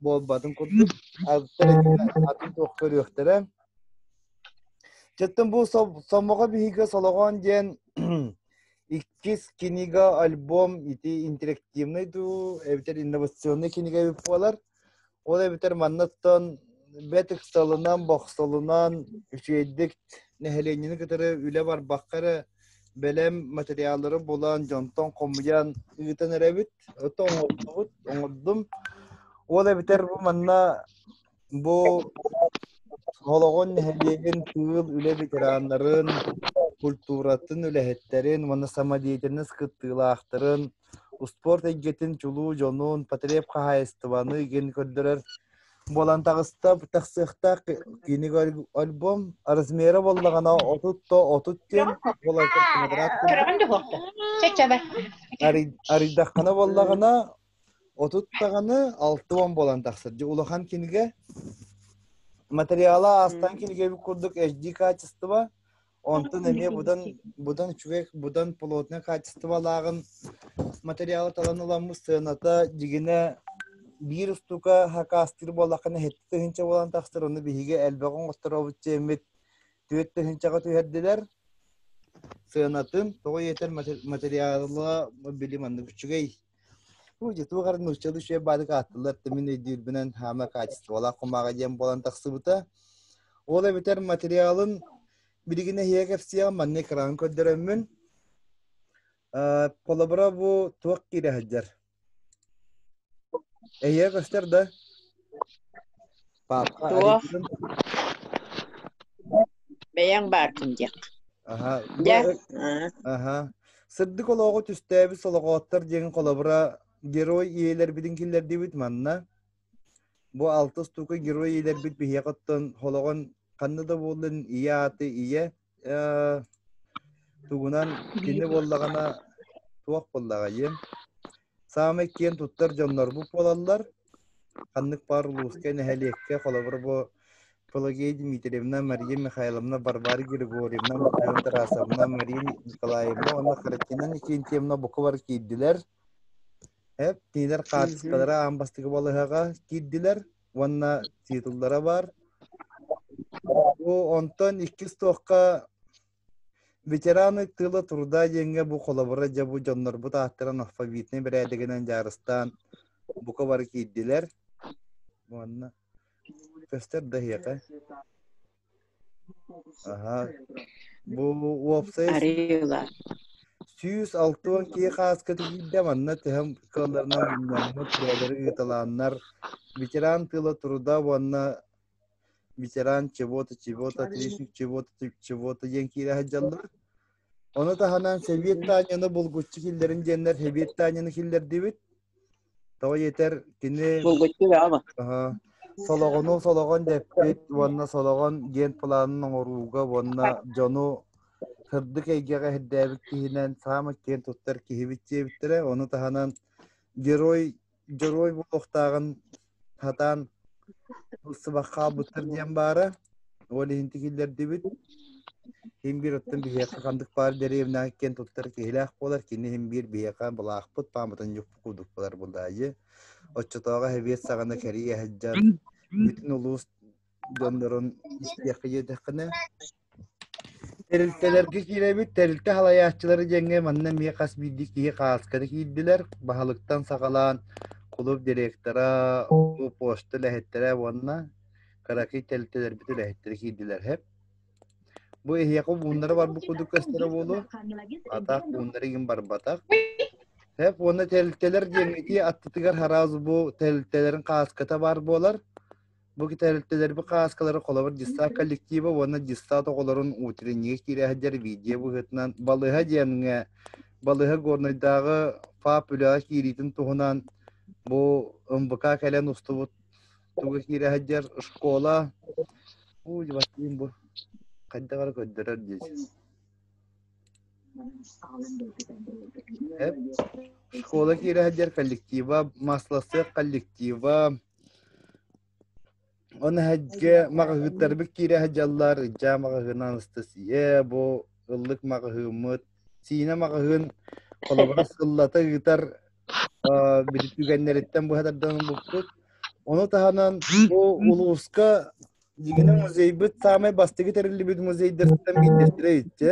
буолбатын курдук атын туох көрүөхтэрэ Чэттэн бу сомоҕо биһиги солоҕон диэн иккис книга, альбом ити интерактивный дуу, эбэтэр инновационный кинигэ эбит буолар. Ол эбэтэр манныттан бэт ыксалынан, бохсолунан үчүгэйдик нэһилиэнньэни кытары үлэ барбакка эрэ бэлэм материаллары булан, дьонтон хомуйан ыытан эрэбит. это оҥордубут, оҥордум. Ол эбэтэр бу манна бу Холоҕон нэһилиэгин тыыл үлэ ветераннарын, культуратын үлэһиттэрин уонна самодеятельность кыттыылаахтарын, успуорт эйгэтин чулуу дьонун, потреб хаһаайыстыбаны иген көрдөрөр Буолан таҕыста тахсыахтаах кииник альбом размера буоллаҕына отут то отут диэн буоларыгар кумадараат курдук арыйдаххана буоллаҕына отут даҕаны алты уон буолан тахсар дьэ улахан кинигэ материала аастан кинигэ курдук HD качество Онтон эмиэ будан будан үчүгэй будан плотнай хаачыстыбалааҕын материалы талан ыламмыт сыаната дигинэ биир устука хакастыыр буоллаххына һэттэ тыһынча буолан тахсар ону биһиги элбэҕи оҥосторобут диэммит түөрт тыһынчаҕа түһэрдилэр сыанатын тоҕо иэтэр материалла били маннык үчүгэй Бу дьитугар нуучча үчүгэй баадык ааттылар тымын өйдүүрбүнэн хаама качестволаах кумааҕа диэн буолан тахсыбыта. Ол эбэтэр материалын билигин эһиэ кэпсиэҕим манна экран көрдөрөммүн. Полобро бу туох киирэ сылдьар? Эһиэ көстөр да? Папка Кто? Аритон бэйэҥ бааркын диэх Аха, бу дьэ эрэ- аа, аха. Сырдык олоҕу түстээбит солоҕооттор диэн холобура герой ийэлэрбитин киллэрдибит манна. Бу алтыс тука герой ийэлэрбит биһиэхэ оттон холоҕон ханна да буоллун ийэ ааты ийэ Э, тугунан кинини буоллаҕына туох буоллаҕайым саамай киэн туттар дьоннорбут буолаллар ханнык баар улууска нэһилиэккэ холобур бу Пелагея Дмитриевна Мария Михайловна Варвара Григорьевна Михаил Тарасовна Мария Николаевна уонна Харакинан Икентьевна буквар киирдилэр eb кинилэр хаартыскалара аан бастакы балаһаҕа киирдилэр уонна титуллара бар. Бу онтон иккис туохха ветераны тыла турда диэҥҥэ бу холобура дьэ бу дьоннорбут ааттарын алфавитнай бэрээдэгинэн дьаарыстаан бука бары киирдилэр. Уонна көстөр да эһиэхэ. Аһа. Бу уопсай Арыылар. сүүс алта уон киһи хааската киирдэ манна тыһым кыалларынан мунньаммыт бэйэлэри ыыталааннар ветеран тыла труда уонна ветеран чего-то чего-то отличник чего-то чего-то диэн киирэ сылдьаллар ону таһынан Сэбиэт Таанньаны булгуччу киллэрин диэннэр Сэбиэт Таанньаны киллэрдибит Тоҕо диэтэр кини Солоҕону солоҕон дэппит уонна солоҕон диэн планын оҥорууга уонна дьону сырдык эйгэҕэ ирдээбит киһинэн саамай киэн туттар киһибит диэбиттэрэ. Ону таһынан герой герой буолуохтааҕын сатаан Ылсыбах хаалбыттар диэн баара. Ол иһин тигиллэрдибит. Имбир оттон биһиэхэ хандык баар деревняга киэн туттар киһилээх буолар. Кини имбир биһиэхэ былаахпыт пааматын ньукпу курдук булар булаайы. Оччотооҕу хэбиэт саҕана кэрии сылдьан бүтүн улуус дьоннорун истиэххэ диэтэххинэ Тэрилтэлэргэ киирэбит, тэрилтэ салайааччылара диэҥҥэ манна эмиэ хас биирдии киһи хаасканы киирдилэр. Баһылыктан саҕалаан кулууп директора, улуу пошта үлэһиттэрэ уонна кыракый тэрилтэлэрбит үлэһиттэрэ киирдилэр эһэ. Бу эһиэхэ мууннара барбыт курдук көстөрө буолуо. Атах мууннара игин барбатах. Эһэ уонна тэрилтэлэр диэҥҥитии аттытыгар араас бу тэрилтэлэрин хааската баар буолар. Бу тэрилтэлэрбит хааскалара холобур дьыссаат коллектива уонна дьыссаат оҕолорун утреннига киирээһэддэр видео быһыытынан балыһа диэҥҥэ балыһа горнойдааҕы ФАП үлэҕэ киириитин туһунан бу МБК кэлэн устубут туга киирээһэддэр школа уйбаттыын бу хайдаҕара көрдөрөр диэч школа киирээһэддэр коллектива масласыах коллектива Оны эһэге маҕаһыыттарбыт киирэ сылдьаллар. Иччаа маҕаһыынан Анастасия бу ыллык маҕаһыыммыт Сиинэ маҕаһыын холобура сыллата ыытар аа, били түгэннэриттэн быһа тарданбыппыт. Ону таһынан бу улууска дигини музейбыт саамай бастыгы тэриллибит музейдэртэн биирдэстэрэ иччэ.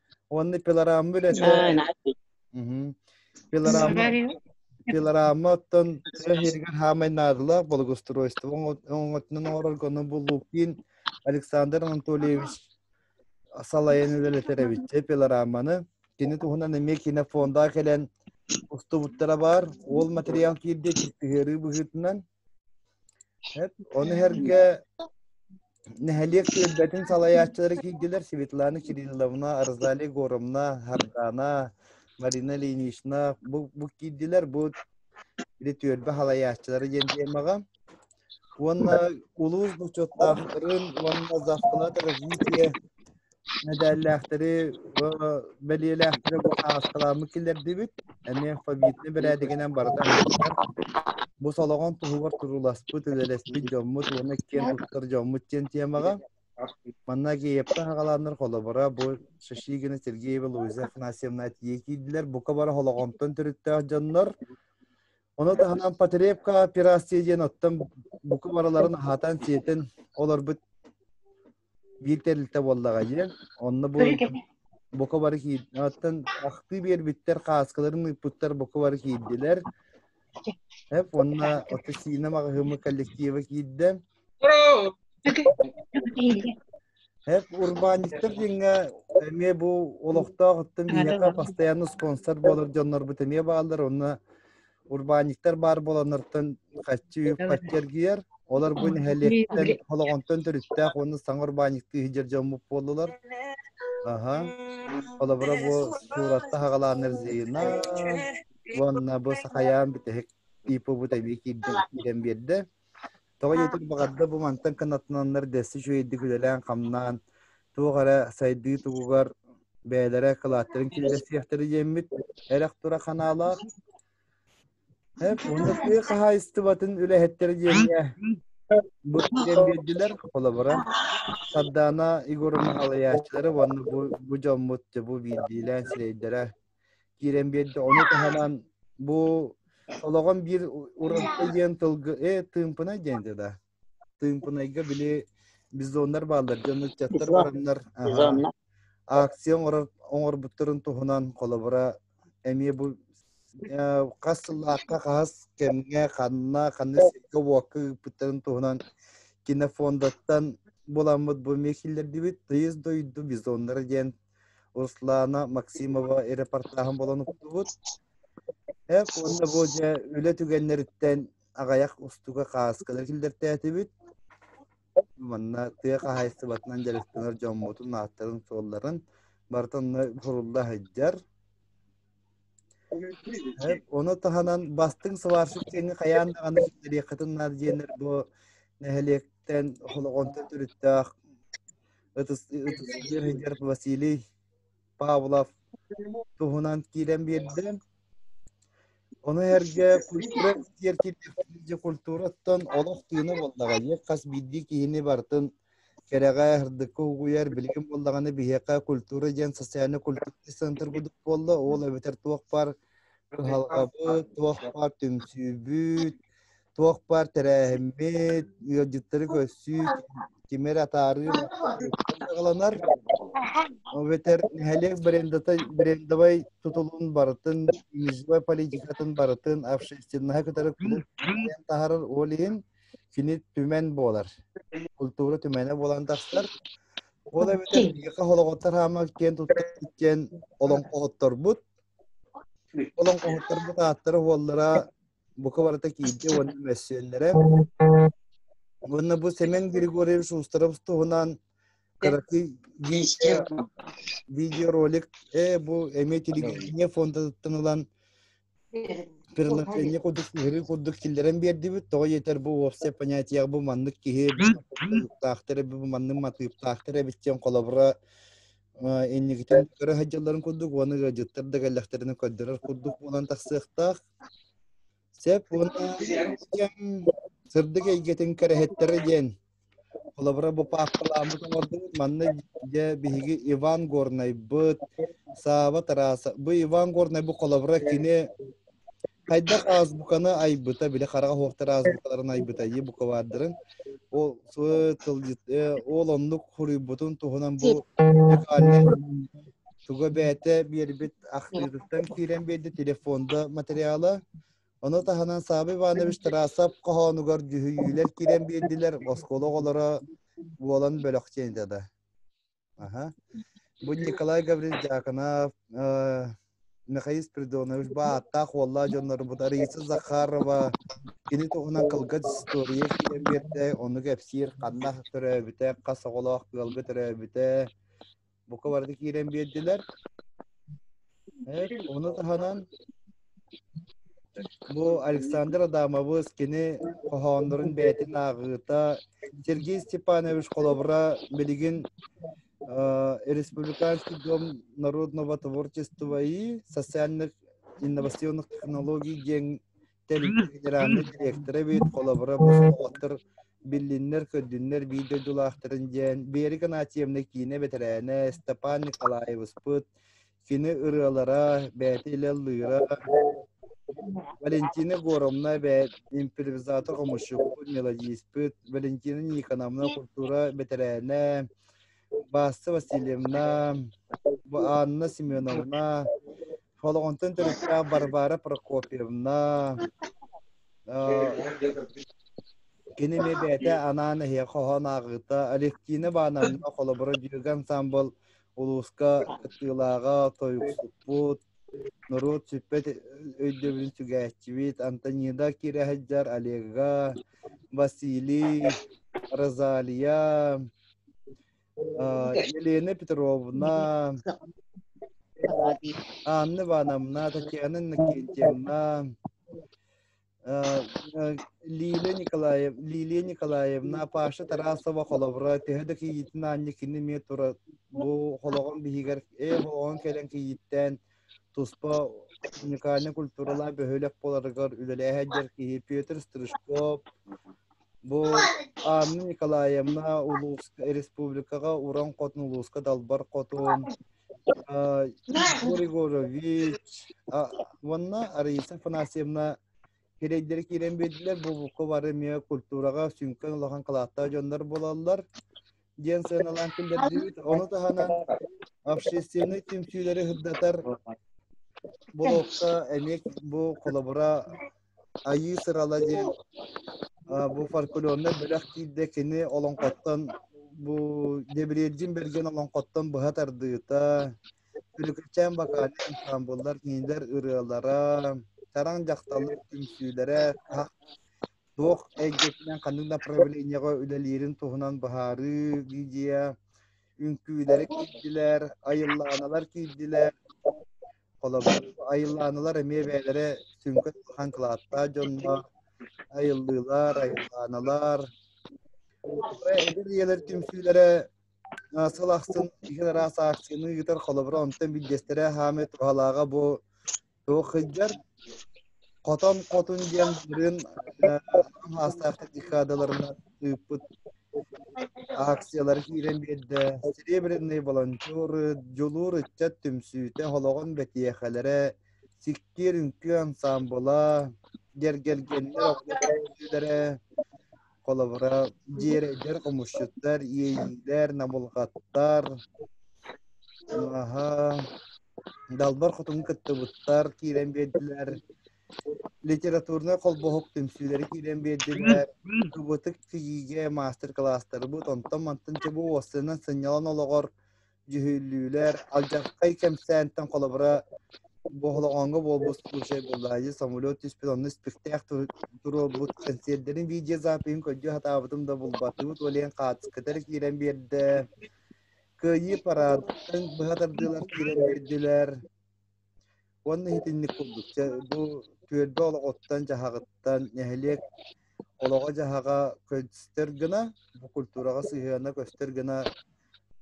Уонна пилорама үлэтэ. Пилорама пилорама оттон тыа иһигэр хаамай наадалаах благоустройство оҥотунан оҥорорго ону буллууктиин Александр Анатольевич салайан үлэлэтэр эбит пилораманы. Кини туһунан эмиэ кинофонда кэлэн устубуттара баар. Ол материал киирдэ тыһыарыы быһыытынан Эт, ону эргэ нэһилиэк түөлбэтин салайааччылара киирдилэр Светлана Кирилловна, Розалия Егоровна, Хардана, Марина Ильинична бу, бу киирдилэр бу били түөлбэ салайааччылара диэн тиэмэҕэ уонна улуус бочуоттаахтарын уонна Завклад развитие мэдээллээхтэри, бэлиэлээхтэри бу хаартыскаламмы киллэрдибит. Эмиэ алфавитны бэрээдигинэн барыта аһыттар. Бу солоҕон туһугар турууласпыт, үлэлэспит дьоммут уонна киэн туттар дьоммут диэн темаҕа. Манна Геепта хагалааннар холобура бу Шашигина Сергеева Луиза Афанасьевна атие киирдилэр. Бука бара холоҕонтон төрүттээх дьоннор. Ону таһынан потребка операция диэн оттон бука бараларын аһатан сиэтин олорбут биир тэрилтэ буоллаҕа диэн онно бу бука бары киирдэ оттон ахтыы биэрбиттэр кааскаларын ыыппыттар бука бары киирдилэр эп онно отосина маҕаһыымы коллектива киирдэ эп урбаанньыттар диэҥҥэ эмиэ бу олохтоох оттон биһиэхэ постоянно спонсор буолар дьоннорбут эмиэ бааллар онно урбаанньыттар баар буоланнартан хаччы хаччы эргийэр олор бу нэһилиэктэн холоҕонтон төрүттээх уонна саҥа урбаанньыктыы иһдьэр дьоммут буоллулар аха холобура бу сууратта хагалаан эрзиина уонна бу сахаян бүтэһик типу бу эбии киирдэн биэрдэ Тоҕо диэтэр, баҕарда бу мантан кынаттананнар дэсси үчүгэйдик үлэлээн-хамнаан, туох эрэ сайдыы тугугар бэйэлэрэ кылааттарын киллэриэхтэрэ диэммит эрэх тура ханаалаах. Эп, уонна тыа хаһаайыстыбатын үлэһиттэрэ диэмҥэ бу диэн биэрдилэр холобура. Сардаана Егоровна Алаячылары уонна бу, бу дьоммут бу биирдиилээн сирэйдэрэ киирэн биэрдэ. Ону таһынан бу олоҕун биир ураты диэн тылгы э тыымпынай диэнте да. Тыымпынайга били бизоннар бааллар дьон ыччаттар бараннар акция оҥорор оҥорбуттарын туһунан холобура эмиэ бу хас сыллаахха хас кэмҥэ ханна ханна сиргэ уокка ыыппыттарын туһунан кинофондаттан буламмыт бу мехиллердибит тыйыс дойду бизоннара диэн Руслана Максимова репортаһын болон уктубут. Эп уонна бу дьэ үлэ түгэннэриттэн аҕайах устуга кааскалар киллэртээтибит. Манна тыа хаһайыстыбатынан дьарыктанар дьоммутун ааттарын суолларын барыта онно сурулла сылдьар. Оны таһынан бастың сварщик сені қаян аны дәриқатын наадиенер бу нәһелектен холоғонтан түрүттөөх ытыстыыр сылдьар Василий Павлов туһунан киирэн биэрдэ. Ону эргэ культура сиэркилиэхтиир культураттан олох тыына буоллаҕа. Ийэ хас биирдии киһини бартын кэрэҕэ ырдыкка угуйар билигин буоллаҕына биһиэхэ культура диэн социальный культурный центр курдук буолла ол эбэтэр туох бар кыһалҕабыт туох бар түмсүүбүт туох баар тэрээһиммит, ыалдьыттары көрсүү, кими эрэ атаарыы саҕаланар. Эбэтэр нэһилиэк брендовай тутулун барытын, низовой политикатын барытын общественноһа кытары таһарар ол иһин кини түмэн буолар. Культура түмэнэ буолан тахсар. Ол эбэтэр биһиэхэ холоҕоттор хаама киэн туттар диэн олоҥхоһотторбут. Олоҥхоһотторбут ааттара уоллара бука барыта киирдэ уонна мөссүөллэрэ уонна бу Семен Григорьевич Устаров туһунан кыракый видеоролик э бу эмиэ телевидение фондатыттан ылан приложение курдук сыһырыы курдук киллэрэн биэрдибит тоҕо диэтэр бу уопсай понятиех бу маннык киһи бу маннык матыыптаахтар эбит диэн холобура инникитин көрө сылдьалларын курдук уонна ыалдьыттар да кэллэхтэринэ көрдөрөр курдук буолан тахсыахтаах Сөп уонна сырдык эйгэтин кэрэһиттэрэ диэн холобура бу паапкаламмыт оҥордубут. Манна дьэ биһиги Иван Горнайбыт, Саава Тараса. Бу Иван Горнай бу холобура кини хайдах азбуканы айбыта, били хараҕа суохтар азбукаларын айбыта ии букваардарын. Ол тылдьыт, ол оннук хоруйбутун туһунан бу музыкальнай Туга бэйэтэ биэрбит ахтыырыттан киирэн биэрдэ телефонда материала. Ону таһынан Саабы Иванович Тарасов хоһоонугар дьүһүйүүлэр киирэн биэрдилэр, оскуола оҕолоро буолан бөлөх чиэнитэ да. Аха. Бу Николай Гаврилович Дьаакынап, Михаил Спиридонович бааттаах уоллаа дьоннорбут Ариса Захарова кини туһунан кылгас история киирэн биэрдэ, ону кэпсиир ханна төрөөбүтэ, хас оҕолоох ыалга төрөөбүтэ, Бука барыта киирэн биэрдилэр. Evet, onu tahanan bu Александр Адамабыз кини хоһооннорун бэйэтин ааҕыыта Сергей Степанович холобура билигин Республиканский дом народного творчества и социальных инновационных технологий диэн Тэл генеральнай директора эбит, холобура, бу солоҕоттор биллиннэр-көрдүннэр биир дойдулаахтарын дьээн, Биэри Канаатьевна киинэ бэтэрээнэ Степан Николаевыспыт, кини ырыалара, бэйэтэ илэллыыра, Валентина Горовна бэйэ импровизатор хомусчуппут, мелодиспыт, Валентина Никоновна культура бэтэрээнэ, Баста Васильевна, Анна Семеновна, Холоҕонтон төрүттээх Варвара Прокопьевна, кини эмиэ бэйэтэ анаан эһиэхэ хоһоон ааҕыыта Алевтина Ивановна холобура дьүөгэ ансамбыл улууска кыттыылааҕа тойуксуппут норуот сүппэт өйдөбүлүн сүгээччибит Антонида Кирэһэдьар Олега Василий Розалия Елена Петровна, Анна Ивановна, Татьяна Иннокентьевна, Лилия Николаев, Лилия Николаевна, Паша Тарасова холобура, төһө да кийиитин аанньа кини эмиэ тура бу холоҕун биһигэр э хоһоон кэлэн кийииттээн туспа уникальнай культуралаах бөһүөлэк буоларыгар үлэлээһэ дьэр киһи Петр Стрижков бу Анна Николаевна улууска республикаҕа уран хотун улууска далбар хотун Григорович уонна Ариса Афанасьевна кирэйдери киирэн биэрдилэр бу букка бары эмиэ культураҕа сүҥкэн улахан кылааттаах дьоннор буолаллар диэн сыаналаан киллэрдибит. Ону таһынан общественнай түмсүүлэри сырдатар блокка эмиэ бу холобура Айыы сырала диэн бу фольклорнай бөлөх киирдэ кини олоҥхоттон бу Дебрежин берген олоҥхоттон быһа тардыыта Түрүкүчээн вокальный ансамбллар кинилэр ырыалара, чараҥ дьахталлар түмсүүлэрэ, Туох эйгэтинэн ханнык направлениеҕа үлэлиирин туһунан быһаарыы, гидея, үҥкүүлэри киирдилэр, айыллааналар киирдилэр. Холобур, айыллааналар эмиэ бэйэлэрэ сүҥкэн улахан кылааттаах дьоннор, айыллыылар, айыллааналар. Эдэр ийэлэр түмсүүлэрэ сыл ахсын иһин араас аакцияны ыытар, холобура, онтон биирдэстэрэ хаамыы туһалааҕа бу Уохайдар хотон хотун диэн бырын маастаахтар декадаларынан ыыппыт акциялар киирэн биэрдэ серебряный волонтеры дьулуур ыччат түмсүүтэ холоҕон бэтиэхэлэрэ сиккиэр үҥкүү ансаамбыла гэргэлгэннэр оҕолорлара холобура дьиэрэйдэр хомусчуттар иэйиилэр набылҕаттар аһа далбар хотуну кыттыбыттар киирэн биэрдилэр литературнай холбоһук түмсүүлэри киирэн биэрдилэр кыбытык тигиигэ маастер-кылаастарбыт онтон мантан чебу уоссанан сынньалан олоҕор дьүһүллүүлэр алдьархай кэмсээнтэн холобура боһолоҕоҥҥо буолбут случай буолла дьэ самолет түспүт онно испиртээх туруорбут консервдэрин видеозапиһын көрдүү сатаабытым да булбатыбыт уолайан хаачыскатар киирэн биэрдэ кыайыы параадтан быһа тардыылар киирэн биэрдилэр Уонна итинник курдук бу түөлбэ олоҕуттан-дьаһаҕыттан нэһилиэк олоҕо-дьаһаҕа көстөр гына, бу культураҕа сыһыана көстөр гына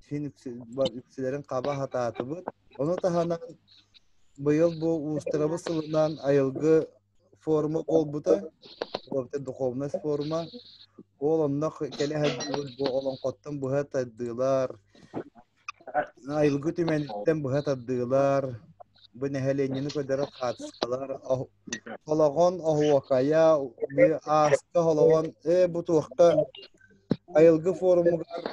син үксүлэрин хаба сатаатыбыт. Ону таһынан быйыл бу уустарабыт сылынан айылгы форума буолбута. Ол эбэтэр духовность форума. Ол онно кэлэ сылдыылар, бу олоҥхоттон быһа тардыылар, Айылгы түмэниттэн быһа тардыылар, бу нэһилиэнньэни көрдөрөр хаачыстыбалар, холоҕон оһуокайа, ааска холоҕон, ээ бу туохта айылгы форумугар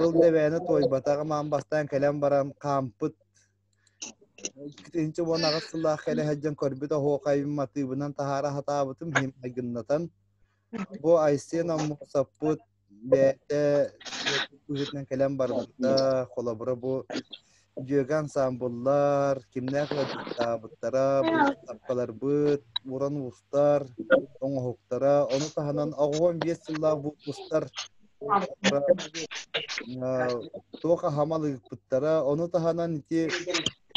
Ыл Дэвээни туойбатаҕым аан бастаан кэлэн баран хаампыт иккитинчи уон аҕыс сыллаах кэлэ сылдьан көрбүт оһуокайым матыыбынан таһаара сатаабытым иһин майгыннатан бу Айсен Оммосовпут бэйэтэ быһыытынан кэлэн барбыта холобура бу дьүөгэ ансаамбыллар кимнээх ыалдьыттаабыттара быыстапкаларбыт уран уустар оҥоһуктара ону таһынан оҕуон биэс сыллаах выпустар туох аһамал ыыппыттара ону таһынан ити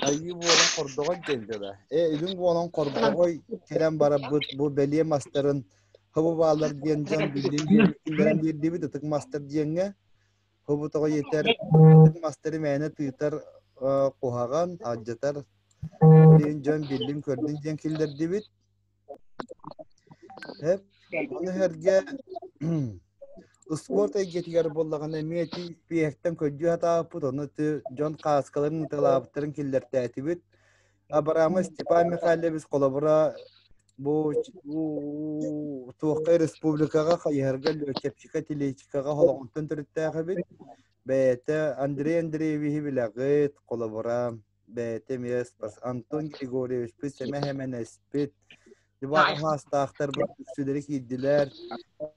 айыы буолан хордоҕон диэн дьэ да э илин буолан хордоҕой кэлэн барарбыт бу бэлиэ мастарын Хобубаалар диэн дьон биллиин диэбиттин баран биирдибит ытык мастар диэҥҥэ хобутоҕо иэтэр ытык мастары мээнэ тыытар куһаҕан алдьатар билиин дьон биллин көрдүн диэн киллэрдибит эп аны эргэ спорт эйгэтигэр буоллаҕына эмиэ ити пиэхтэн көрдүү сатаабыппыт ону дьон кааскаларын ыталаабыттарын киллэртээтибит Абрамы Степан Михайлович холобура бу бу туохха республикаҕа хайыһарга лүөчэпчикэ телечикаҕа холоҕунтан төрүттээх эбит бэйэтэ Андрей Андреевиһи билэҕит холобура бэйэтэ эмиэ Антон Григорьевичпыт сэмэ сэмэнэспит Иван Хаастаахтарбыт үксүлэри киирдилэр.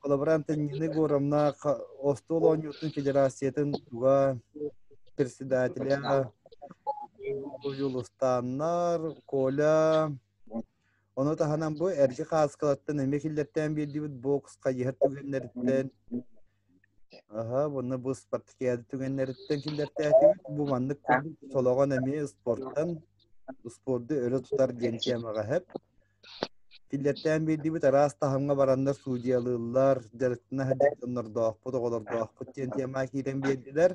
Коллаборант Нины Горовна остуол оонньуутун федерациятын туга председателя Уулустааннар, Коля Ону таһынан бу Эрчи Хааскалаттан эмиэ киллэртээн биэрдибит бокс хайыһар түгэннэриттэн Аха, уонна бу спорткиады түгэннэриттэн киллэртээтибит. Бу маннык курдук солоҕон эмиэ спортан, спорду өрө тутар диэн тиэмэҕэ хэп. Киллэртээн биэрдибит араас таһымҥа бараннар судьялыыллар, дьарыктана сылдьаннордоохпут, оҕолордоохпут диэн тиэмэҕэ киирэн биэрдилэр.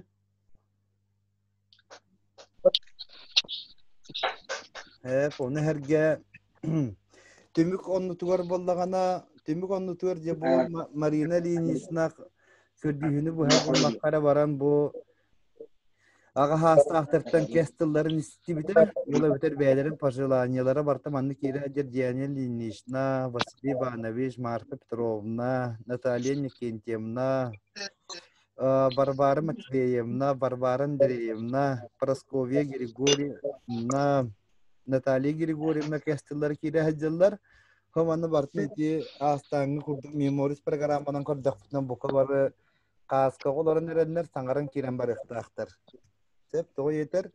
Эп, ону эргэ түмүк оннутугар буоллаҕына, түмүк оннутугар дьэ бу Ма- Марина Ильиничнаах көрдүүһүнү быһа буллахха эрэ баран бу аҕаһаастаахтартан кэс тылларын истибитэ, ыла бүтэр бэйэлэрин пожеланиелара барта маннык иирээддер Диана Ильинична, Василий Иванович, Марта Петровна, Наталья Никентьевна, Варвара Матвеевна, Варвара Андреевна, Прасковья Григорьевна, Наталья Григорьевна кестылар кире хадьыллар. Хоманы бартын ити аастааҥҥы курдук меморис программанан көрдөхпүтүнэн бука бары кааска олорон эрэннэр саҥаран киирэн барыахтаахтар. Сөп, тоҕо етер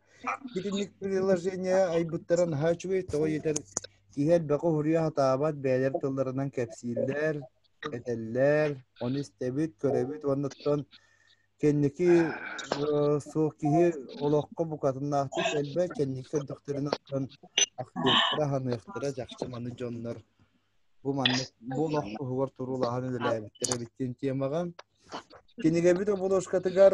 итинник приложение айбыттара наһаа үчүгэй, тоҕо етер киһи элбэҕи уһуруйа сатаабат, бэйэлэр тылларынан кэпсииллэр, этэллэр, ону истэбит, көрөбүт уонуттан кэнники э, суох киһи олоххо букатыннаахтык элбэт, кэнники көрдөхтөрүнэ оттон ахтыахтара, аһыныахтара чахчы маны дьоннор бу маннык бу олох туһугар туруулаһан үлэлээбиттэр эбит диэн темаҕа. Кинигэбит обложкатыгар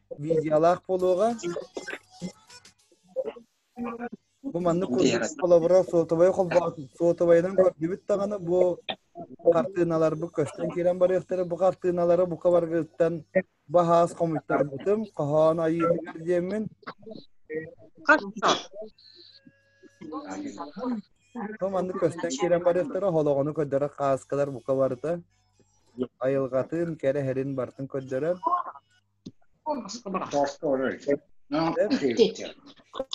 видеолаах буолуоҕа. Бу маннык курдук холобура суотубай холбоо суотубайынан көрдүбүт даҕаны бу хартыыналарбыт көстөн киирэн барыахтара бу хартыыналары бука баргыттан баһаас хомуйтарбытым хоһоон айыытыгар диэммин бу маннык көстөн киирэн барыахтара холоҕону көрдөрө хааскалар бука барыта айылҕатын кэрэ иһэрин бартын көрдөрөр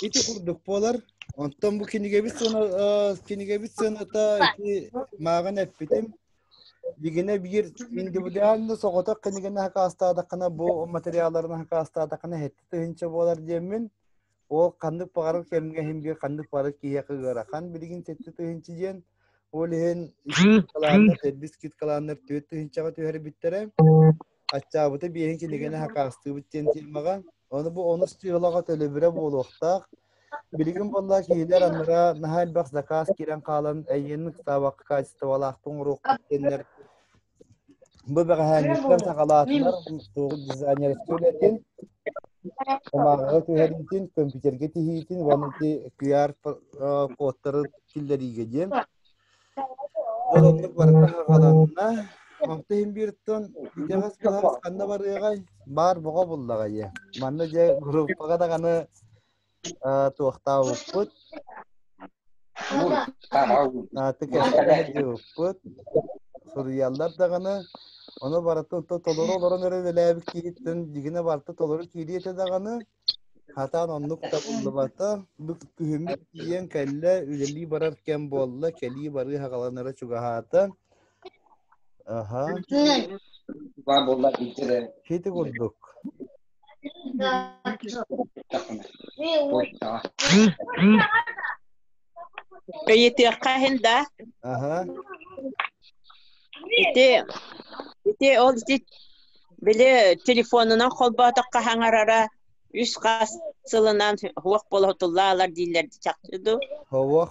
ити курдук буолар онтон бу кинигэбит сыана кинигэбит сыаната ити мааҕын эппитим дигине биир индивидуально соҕотох кинигэни хакаастаатаххына бу материалларын хакаастаатаххына хэттэ тыһынча буолар диэммин ол ханнык баҕарар кэмҥэ иһин биир ханнык баҕарар киһиэхэ ыарахан билигин сэттэ тыһыынча диэн ол иһин сервис скидкалааннар түөрт тыһыынчаҕа түһэрбиттэрэ аччаабыта биэһин кинигэни хакаастыыбыт диэн тиэмэҕэ ону бу онус тыалаҕа төлөбүрэ буолуохтаах билигин буолла киһилэр аннара наһаа элбэх заказ киирэн хаалан эйиэнин ыксаабакка качестволаахтык оҥоруохпут диэннэр Бу бэҕэһээҥҥиттэн саҕалаатылар мустуоҕу дизайнерскай үлэтин, ымааҕыга түһэриитин, көмпүүтэргэ тиһиитин уонна ити QR кодтары киллэриигэ диэн. Ол оннук барыта саҕаланна. Онто иһин бииртон итэҕэс былаас ханна барыаҕай? Баар боҕо буллаҕа ийэ. Манна дьэ группаҕа даҕаны Э, туохтаабыппыт ааты кэпсэтиһэ диэбиппит суруйаллар даҕаны ону барыта то толору олорон эрэ үлэлээбит киһиттэн дигине барыта толору киириэ этэ даҕаны хатаан оннук табыллыбата бу күһүммүт тиийэн кэллэ үлэлии барар кэм буолла кэлии барыы хагаланара чугаһаата Аһа. Баар буолла икки да. Хити курдук. Өйүтүөххэ иһин да. Аһа. Ити ити ол били телефонунан холбоотохха хаҥарара үс хас сылынан хуох болотуллаалар дииллэр чахчы ду. Хоуох.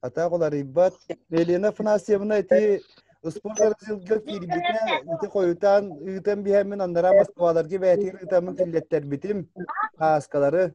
Атаах уларыйбат. Елена Афанасьевна ити Успуор разделга киирбитэ, ити хойутаан ыытан биһэммин, андараа Москваларга бээтиир ыытаммын киллэттербитим, Пааскалары.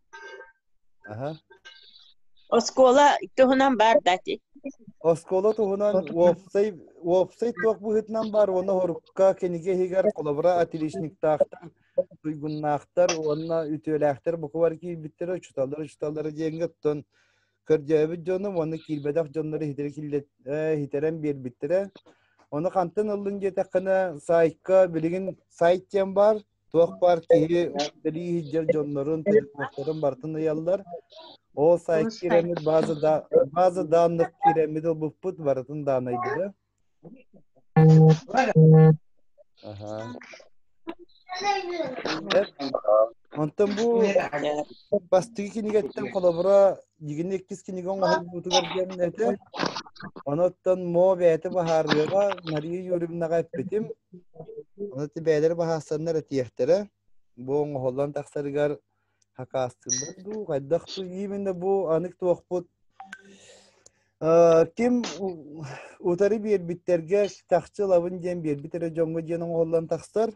Аһа. Оскуола туһунан баар да ити. Оскуола туһунан уопсай уопсай туох быһыытынан баар уонна хорукка кинигэ иһигэр холобура отличниктаахтар, туйгуннаахтар уонна үтүөлээхтэр букубар киирбиттэрэ учуталлар учуталлар диэҥҥэ оттон көрдөөбүт дьонум уонна киирбэтэх дьоннору иһитэрэн биэрбиттэрэ. Ону хантан ыллын диэтэххинэ, сайтка билигин сайт диэн баар, Туох баар киһи сэрии иһдьэр дьоннорун, төлөпүөннэрин бартын ыйаллар. Ол сай кииреммит база да база данных кииреммит обуппут барытын даанайдыра. Аха. Онтон бу бастыгы кинигеттен холобура дьигини иккис кинигэ оҥоһуллуутугар диэн этэ. Онуттан Мо бэйэтэ баһаарыаҕа, Мария Юрьевнаҕа эппитим. Аны бэйэлэр баһаастаннар этиэхтэрэ. Бу оҥоһуллан тахсарыгар хакаастыыллар дуу, хайдах дуу именно бу анык туохпут ким утары биэрбиттэргэ чахчы ылабын диэн биэрбит эрэ дьоҥҥо диэн оҥоһуллан тахсар.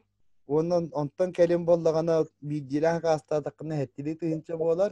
Уонна онтон кэлин буоллаҕына биирдиилээн хакаастаатаххына эһэттилии тыһыынча буолар.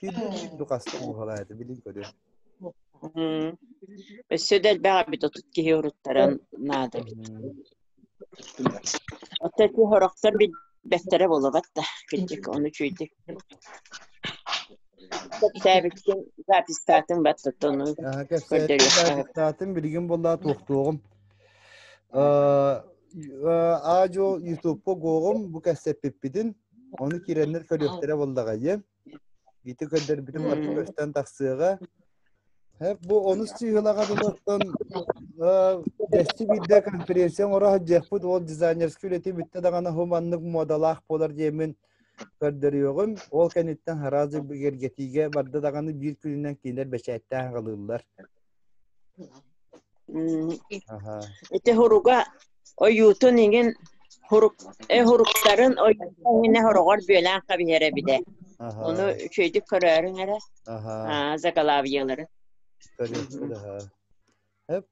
Киирбит киирбит хаста оҥоһулаата билин көрү. Өссө да элбэх эбит отут киһи уруттаран наада эбит. Отто ити хорохтор бэттэрэ буолабат да кырдьык ону үчүйдүк. Кэпсээбиккин запистаатын бат тоттону Аха кэпсээтин билигин болла туохтуоҕум. Аадьо Ютубка гоҕум бу кэссеппиппитин Ону киирэннэр көрүөхтэрэ буоллаҕа диэн. Ити көрдөрбүтүм барыта көстөн тахсыаҕа. бу онус сыыһалаҕа дылыттан дэсти биирдэ конференция оҥоро сылдьыахпыт ол дизайнерскай үлэтин бүттэ даҕаны хуманнык муодалаах буолар диэмин көрдөрүөҕүм. Ол кэнниттэн араас бигэргэтиигэ барда даҕаны биир күнүнэн кинилэр бэчээттээн аҕалыыллар. Аха. Ити хуруга ойуутун иҥин хурук э хуруктарын ойуутун иҥинэ хороҕор бүөлээн хабиһэр эбитэ. Аха. Ону үчүөйдүк көрөөрүҥ эрэ Аха. аа, закалаабыйаларын. Көрүөхпүт аха. Эп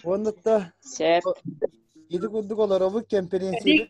уонна да сөп. ити курдук олоробут кэмпириэнсийбит